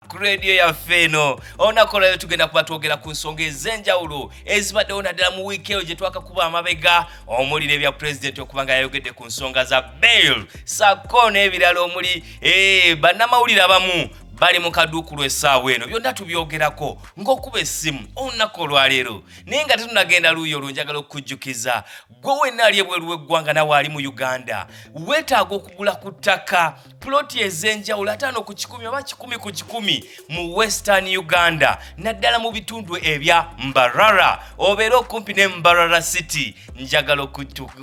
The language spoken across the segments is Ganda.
ku rediyo yaffe eno olunaku olwalero tugenda kuba twogera ku nsonga ez'enjawulo ezibaddewo naddala mu wiiki eyo gye twakakuba amabega omuli n'ebya pulezidenti okuba nga yayogedde ku nsonga za bail sako n'ebirala omuli eh, bannamawulire abamu bali mu kaduukulu essaawa eno byonna tubyogerako ng'okuba essimu olunaku olwaleero naye nga tetunagenda luuyi olunjagala okukujjukiza gwe wenna ali ebweru w'eggwanga nawe ali mu uganda weetaaga okugula ku ttaka puloti ez'enjawulo ataano ku kikumi oba kikumi ku kikumi mu western uganda naddala mu bitundu ebya mbarara obeera okumpi ne mbarara city njagala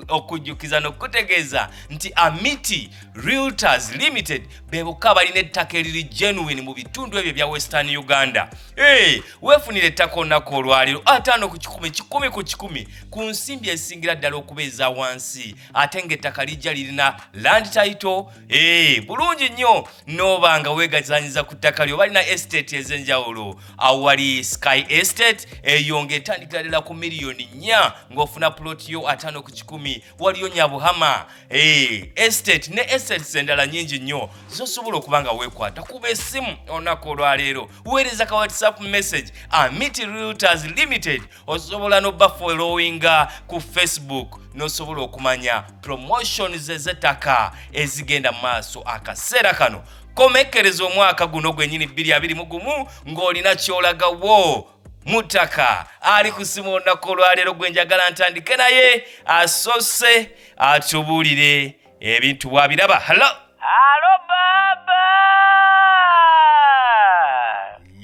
okujjukiza n'okutegeeza nti amiti realtors limited bebokka balina ettaka eriri genuine mu bitundu ebyo ebya western uganda hey, weefunira ettaka olunaku olwaliro ataano ku kikumi kikumi ku kikumi ku nsimbi esingira ddala okuba eza wansi ate ng'ettaka lijja lirina land title ee eh, bulungi nnyo nooba nga weegazanyiza ku ttaka lyo balina estate ez'enjawulo awali sky estate eyo ng'etandikira ddala ku miliyoni nnya ng'ofuna puloti yo ataano ku kikumi waliyo nyabuhama ee eh, estate ne estates endala nyingi nnyo zosobola okuba nga weekwata kuba esimu olunaku olwaleero weereza ka whatsapp message amity realtors limited osobola nobafolowinga ku facebook nosobola okumanya promotions ezetaka ezigenda mu maaso akaseera kano komekkereza omwaka guno gwenyini 22 mu gumu ng'olina kyolagawo mutaka ali kusima olunaku olwaleero gwe njagala ntandike naye asose atubuulire ebintu bwabiraba halo halo baba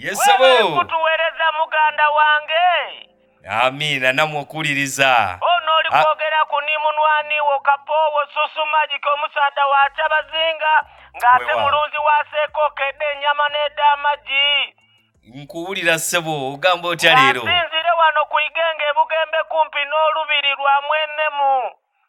yesabo tuwereza muganda wange amiina namwe okuwuliriza ono oli ah. kwogera ku ni munwaniwo kapoowo susumagika omusaadha wa kyabazinga ng'ate mulunzi waseeko okedde enyama n'edda amagi nkuwulira ssebo ogamba otya leero asinzire wano ku igenga ebugembe kumpi n'olubiri lwa mwenemu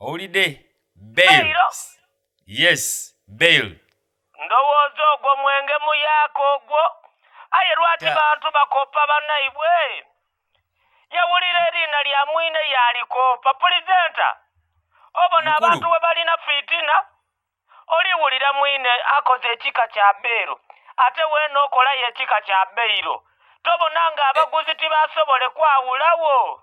owulidde bail yes bail ndowooza ogwo mwenge muyaaka ogwo aye lwaki bantu bakoppa banaibwe yawulira eriina lya mwine yalikoppa pulizenta obona abantu we balina fitina oliwulira mwine akoze ekika kya beero ate weena okolayo ekika kya beiro tobona nga abaguzi tibasobole kwawulawo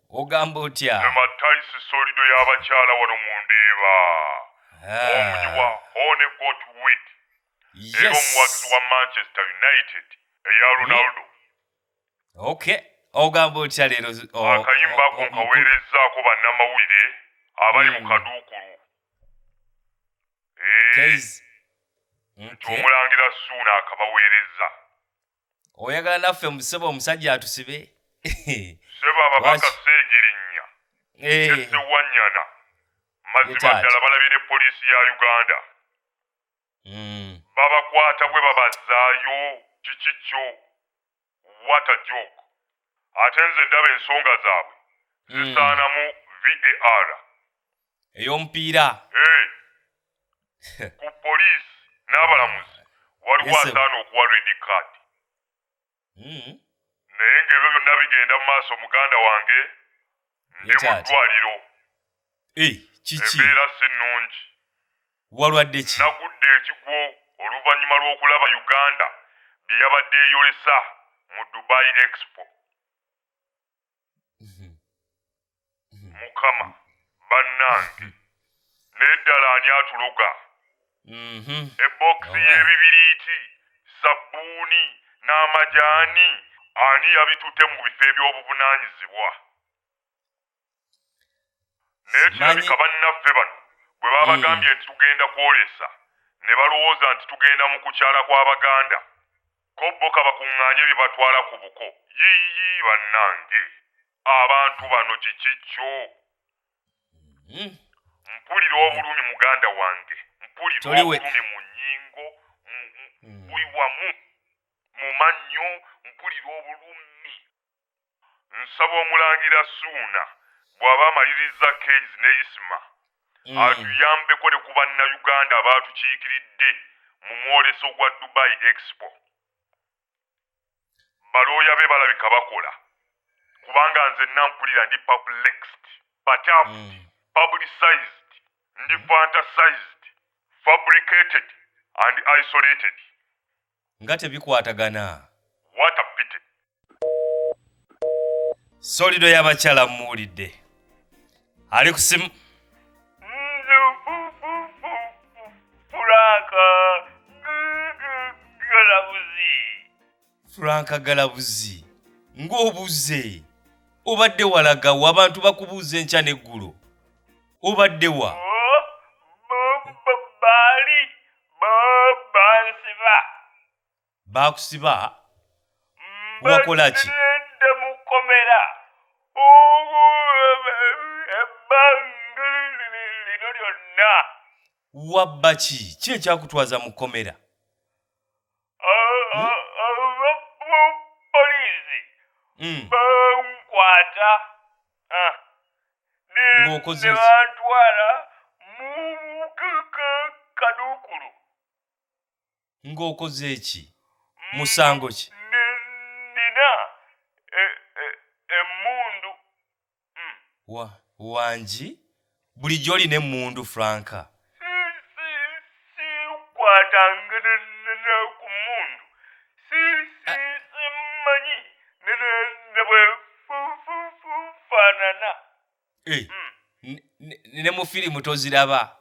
ogamba otya ematayisi solido y'abakyala wano mu ndeeba omugi wa hone got wit era omuwagizi wa manchester united eya hmm. ronaldo ok ogamba otya leero akayimba ako nkaweerezzaako bannamawulire abali mu hmm. kaduukulu eh, nti omulangira suuna akabaweereza oyagala naffe musebo omusajja atusibe sebo ababaka segirinnya esewanyana eh. mazima ddala balabye ne poliisi ya uganda hmm. babakwata bwe babazaayo kiki kyo wata jok ate nze ndaba ensonga zaabwe hmm. zisaanamu var ey'omupiira Hey, ku poliisi n'abalamuzi waliwo Yes, sir. asaana okuwa red card Mm. naye ng'ebyo byonna bigenda mu maaso muganda wange ndi mu Richard. ddwaliro Eh, kiki embeera si nnungi walwadde ki nagudde ekigwo oluvannyuma lw'okulaba uganda bye yabadde eyolesa mu dubai expo mukama bannange naye ddala ani atuloga mhm. ebokisi y'ebibiriiti sabbuuni n'amajaani ani yabitute mu bifo eby'obuvunaanyizibwa naye kirabika bannaffe bano bwe babagambye hmm. nti tugenda kwolesa ne balowooza nti tugenda mu kukyala kw'abaganda Ko bo kabakungaanye bye batwala ku buko. Yiiyi bannange! Abantu bano kiki kyo? Hmm. Mpulira obulumi muganda wange. Mpulira obulumi mu nnyingo, hmm. buli wamu, mu mannyo, mpulira obulumi. nsaba omulangira suuna bwaba amalirizza keyz ne isma mm. atuyambeko ne ku bannayuganda abaatukiikiridde mu mwoleso gwa dubai expo balooya be balabika bakola kubanga nze nampulira ndi publixed batafed mm. publicized ndi fantasized fabricated and isolated nga tebikwatagana What a pity. solido y'abakyala mmuwulidde ali ku simu Pulaka. Galabuzi. franka galabuzi ng'obuze obadde walaga wa abantu bakubuuza enkya n'eggulo obadde wa Bali. bansiba bakusiba wakola ki bansibiridde mu kkomera ugu ebbanga lino lyonna wabba ki ki ekyakutwaza mu kkomera poliisi Mm. bankwata Ah. Ne- Ng'okoze ne ki? bantwala mu ka- ka- kaduukulu ng'okoze eki musango ki Ne- nina e- e- emmundu wa wangi bulijjo olina emmundu franka Eh, hmm. ne mu firimu toziraba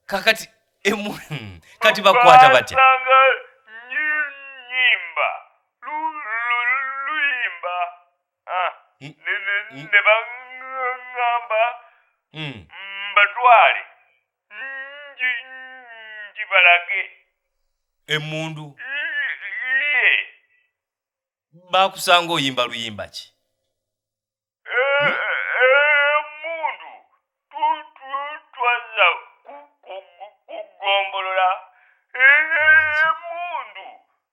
kakati emu hmm, kati bakwata batya Ah, Mm. ne- ne- Mm. ne baŋŋamba Mm. mbatwale nji njibalage emmundu iye baakusanga oyimba luyimba ki emundu tutwaza kugombolola emundu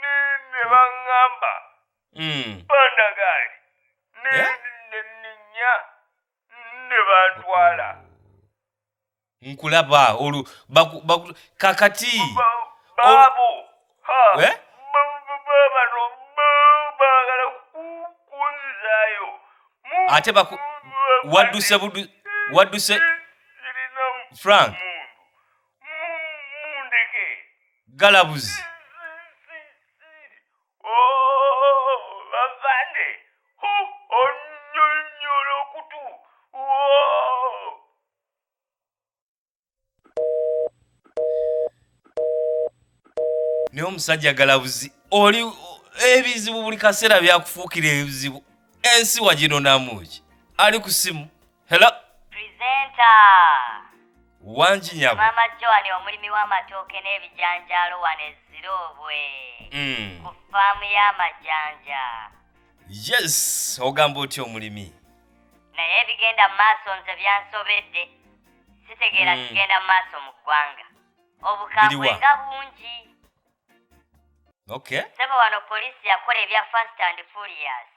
ne ne baŋŋamba Mm. bandagaali ne Eh? ne nninya ne bantwala nkulaba olwo baku- baku- kakati Ba- baabo ha Eh? ba- ba- ba- bano ba- baagala ku- kunzizaayo Mu- Ate baku- mu- wadduse budu wadduse zirina frank mundu mundeke galabuzi bavande onyonyola okutu naye omusajja galabuzi oli ebizibu buli kaseera byakufuukira ebizibu ensi waginonamuki ali ku simu helo presenta wangi nyabo mama joani omulimi w'amatooke n'ebijanjaalo wano eziroobwe mm. ku faamu y'amajanja yes ogamba otya omulimi naye ebigenda mu maaso nze byansobedde sitegeera hmm. kigenda mu maaso mu ggwanga obukambwe Biriwa? nga bungi okay sebo wano poliisi yakola ebya fast and furious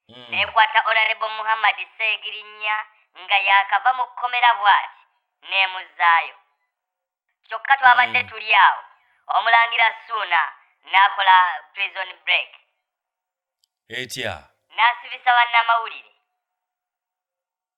Mm. nekwata olarebo muhammad seegirinya nga yaakava mu kkomera bw'ati n'emuzzaayo kyokka twabadde Mm. tuli awo omulangira suuna n'akola prison break etya n'asibisa bannamawulire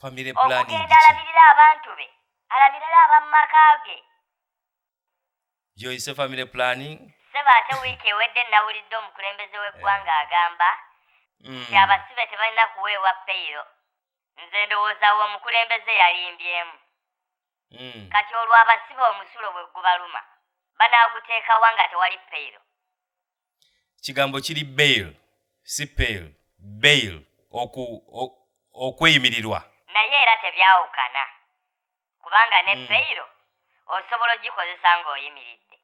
family planning okugenda alabirira abantu be alabirira abamu maka ge joyise family planning sebo ate wiiki ewedde nawulidde omukulembeze w'eggwanga eh. agamba mm. nti abasibe tebalina kuweebwa peyiro nze ndowooza wo omukulembeze yalimbyemu mm. kati olwo abasibe omusulo bwe gubaluma banaaguteekawa nga tewali peyiro kigambo kiri bail si pail bail okweyimirirwa naye era tebyawukana kubanga ne hmm. payiro osobola ogikozesa ng'oyimiridde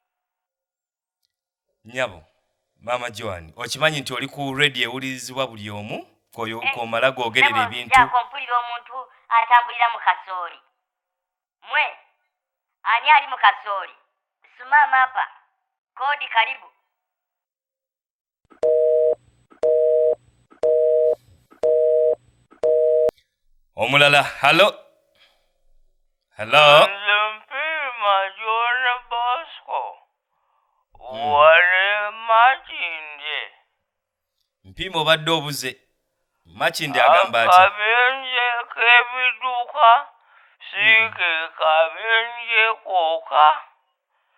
nyabo maama joan okimanyi nti oli ku radio ewulirizibwa buli omu eh, komala googerera ebintu mpulira omuntu atambulira mu kasooli Mwe ani ali mu kasooli? Suma mapa kodi karibu. Omulala halo halo. Mpima Jona Bosco wali makindye. Mpiima obadde obuze. Makindi agamba ati. Akabenje k'ebiduka si ke kabenje kooka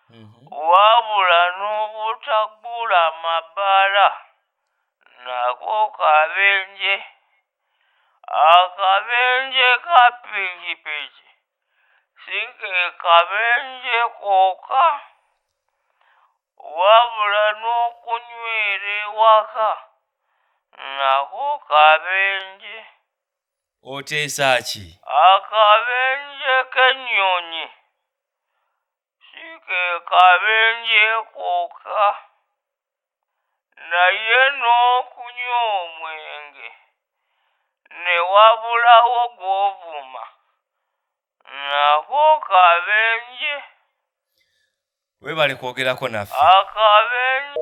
mhm. wabula n'obutaggula mabaala nako kabenje. Akabenje ka pikipiki. sikekabenje koka wabula n'okunywera ewaka nako kabenje oteesa ki? Akabenje k'ennyonyi si ke kabenje kokka naye n'okunywa omwenge ne wabulawo gw'ovuma nako kabenje. Weebale kwogerako naffe. Akabenje.